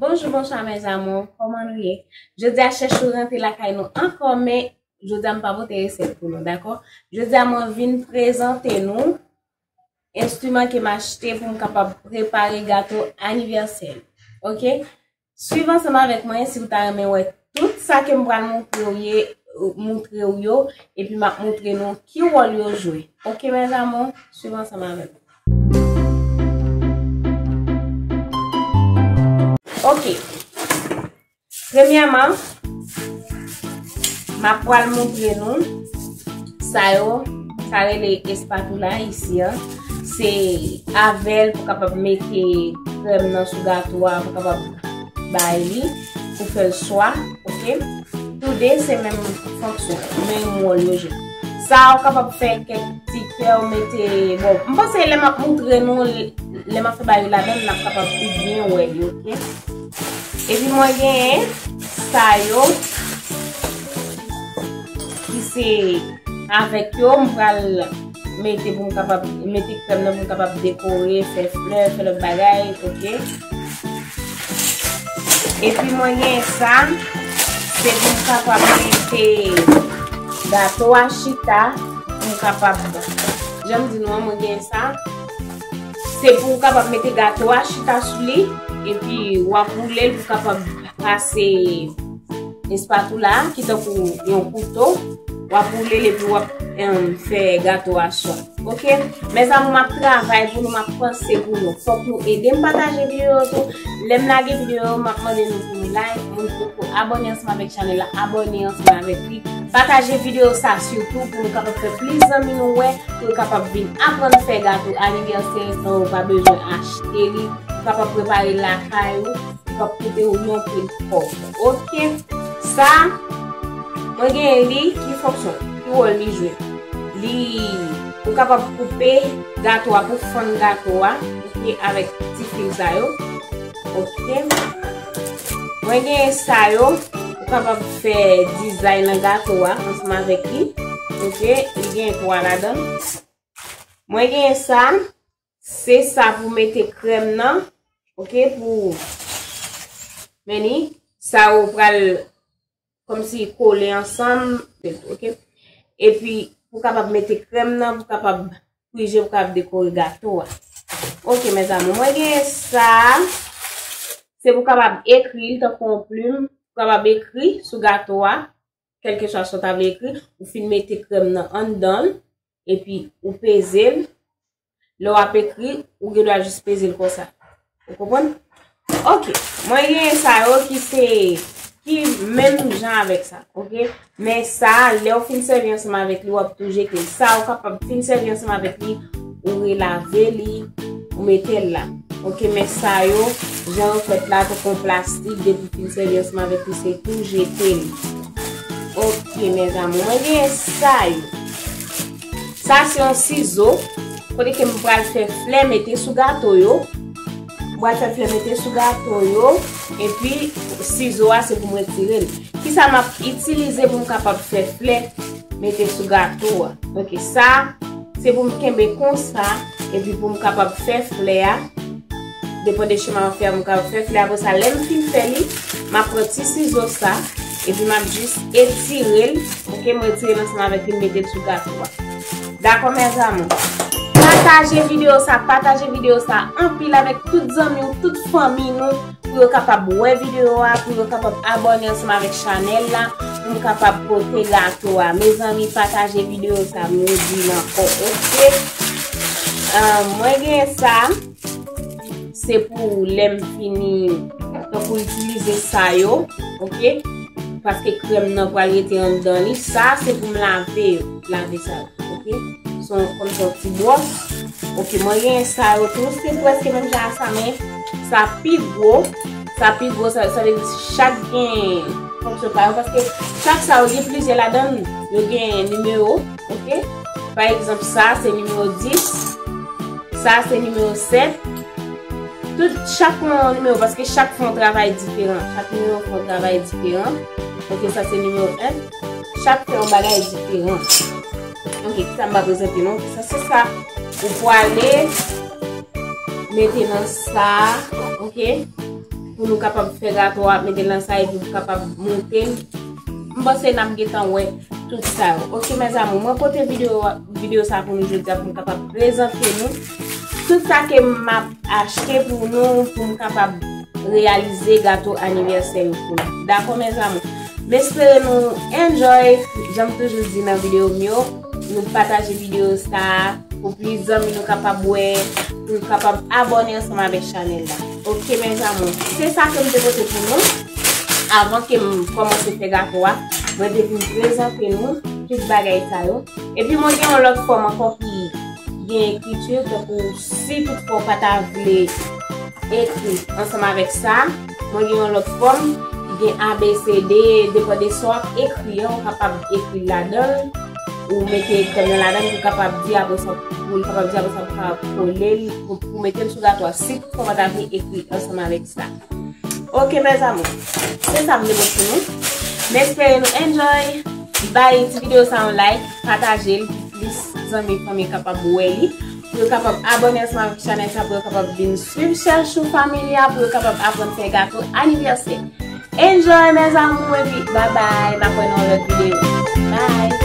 Bonjou bonswa mes amour koman nou ye jodia chèchou rantre lakay nou ankò men jodia m pa pote resèt pou nou dakò jodia mwen vin prezante nou enstriman ke m achte pou m kapab prepare gato anivèsè ok Swiv ansanm avèk mwen si ou ta renmen wè tout sa ke m pral moutre ou yo epi m ap moutre nou ki wòl yo jwe. Ok mes amour, swiv ansanm avèk mwen. Ok, premyèman, m ap pral moutre nou sa yo, sa rele espatula isi an. Se avèl pou kapab mete krèm nan sou gato a pou kapab bay li pou fèl swa, ok? Tou de se menm fonksyon, menm wòl yo jwe. Sa ou kapab fè kèk ti kè ou mete, bon, m panse lè m ap moutre nou, lè m ap fè bay yo la menm n ap kapab pi byen wè li, ok? Epi mwen gen sa yo ki se avèk yo m pral. Mete pou m kapab, mete krèm nan pou m kapab dekore, fè flè, fè lòt bagay, ok. Epi mwen gen sa, se pou m kapab mete gato a chita, pou m kapab, jan m di nou an mwen gen sa, se pou m kapab mete gato a chita sou li, epi wap boule l pou kapab. Pase espatula a ki tankou yon kouto. W ap woule l epi w ap fè gato a sot. Ok? Mezanmi m ap travay pou nou, m ap panse pou nou. Fòk nou ede m pataje videyo yo tou. Lè m lage videyo yo, m ap mande nou pou nou like. Moun ki poko abòne ansanm avèk chanèl la, abòne ansanm avèk li. Pataje videyo sa sitou pou nou kapab fè plis zanmi nou wè, pou yo kapab vin aprann fè gato anivèsè san yo pa bezwen achte li. Ou kapab prepare l lakay ou. Li pap koute ou yon pil kòb. Ok. Sa Mwen genyen li ki fonksyon? Ki wòl li jwe? Li Ou kapab koupe gato a pou fann gato a ok avèk ti fil sa yo. Ok. Mwen genyen sa yo. Ou kapab fè dizay nan gato a ansanm avèk li. Ok. Li genyen 3 ladan l. Mwen genyen sa. Se sa pou mete krèm nan. Ok pou men ni sa ou pral kom si kole ansanm. Ok. E pi pou kapab mete krèm nan pou kapab prije pou kapab dekore gato a. Ok mes amour mwen gen sa. Se pou kapab ekri l tankou yon plume. Pou kapab ekri sou gato a. kelkeswa sa w ta vle ekri, ou fin mete krèm nan anndan l, epi ou peze l, lè w ap ekri, ou gen dwa jis peze l konsa. Ou konprann? Ok, mwen genyen sa yo ki se, ki menm jan avèk sa, ok? Men sa, lè w fin sèvi ansanm avèk li, w ap tou jete l. Sa ou kapab fin sèvi ansanm avèk li. ou relave li, ou mete l la. Ok, men sa yo, jan ou fèt la, pou kon plastik, depi fin sèvi ansanm avèk li, se tou jete li. Ok, men zanmou, mwen genyen sa yo. Sa se yon sizo, kote ke m pral fè flè mete sou gato yo. M pral fè flè mete sou gato yo, epi sizo a se pou m retire l. Ki sa m ap itilize pou m kapab fè flè mete sou gato a? Ok, sa. Se pou m kenbe konsa, epi pou m kapab fè flè a, depan de cheman an fè a, m kapab fè flè a, apre sa lè m fin fè li, m ap pran ti sizo sa, epi m ap jis etire l, ok, m etire l ansanm avèk li, m mete l sou gato a. Dakò mes amours? Pataje video sa, pataje video sa, anpil avèk tout zanmi ou, tout fanmi nou. pou yo kapab wè video a, pou yo kapab abone ansanm avèk chanèl la, pou m kapab pote gato a. Mezanmi pataje video sa m nou di nan fò ok. Mwen gen sa, se pou lè m fini, se pou itilize sa yo, ok. Paske krèm nan pral rete an dan li, sa se pou m lave yo, lave sa yo, ok. Son konn son ti bwòs, ok mwen gen sa yo tou, se pwèske menm jan sa men. Sa pi gwo, sa pi gwo sa vle di chak gen fonksyon pa yo paske chak sa yo gen plizyè ladan l, yo gen nimewo ok, pa egzanp sa se nimewo 10, sa se nimewo 7, tout chak fon yon nimewo paske chak fon yon travay diferan, chak nimewo fon yon travay diferan, ok sa se nimewo 1. Chak fè yon bagay diferan. Ok, kisa m pa prezante nou? Sa se sa. Ou pwale mete nan sa. Ok. Pou nou kapab fè gato a, mete nan sa e pou nou kapab monte. M panse nap getan wè tout sa yo. Ok, mèzamou, mwen pote video sa pou nou jodi a pou m kapab prezante nou. Tout sa ke m map achte pou nou pou m kapab reyalize gato anivèsè yo pou nou. Dakò mes amour. M espere nou enjoy jan m toujou di nan video m yo. Nou pataje video sa pou plis zanmi nou kapab wè, pou yo kapab abone ansanm avèk chanèl la. Ok mes amour. Se sa ke m te pote pou nou. Avan ke m kòmanse fè gato a, mwen te vin prezante nou tout bagay sa yo. Epi mwen gen yon lòt fòm ankò ki. gen ekriti tankou si tout fwa w pa ta vle ekri ansanm avèk sa, mwen gen yon lòt fòm ki gen ABCD, depan de sa w ap ekri an, ou kapab ekri l ladan l, ou mete tèm nan ladan l pou kapab di apre sa pou ka kole l, pou mete l sou gatwa si tout fwa w pa ta vle ekri ansanm avèk sa. Ok mes amour, se sa m te pote pou nou. M espere nou enjoy! Bay ti videyo sa yon like, pataje l. plis zanmi fanmi kapab wè li, pou yo kapab abòne ansanm avèk chanèl sa pou yo kapab vin swiv Chachou Family a pou yo kapab aprann fè gato anivèsè. Enjoy mes amour epi bye bye map wè nou nan yon lòt videyo. Bye!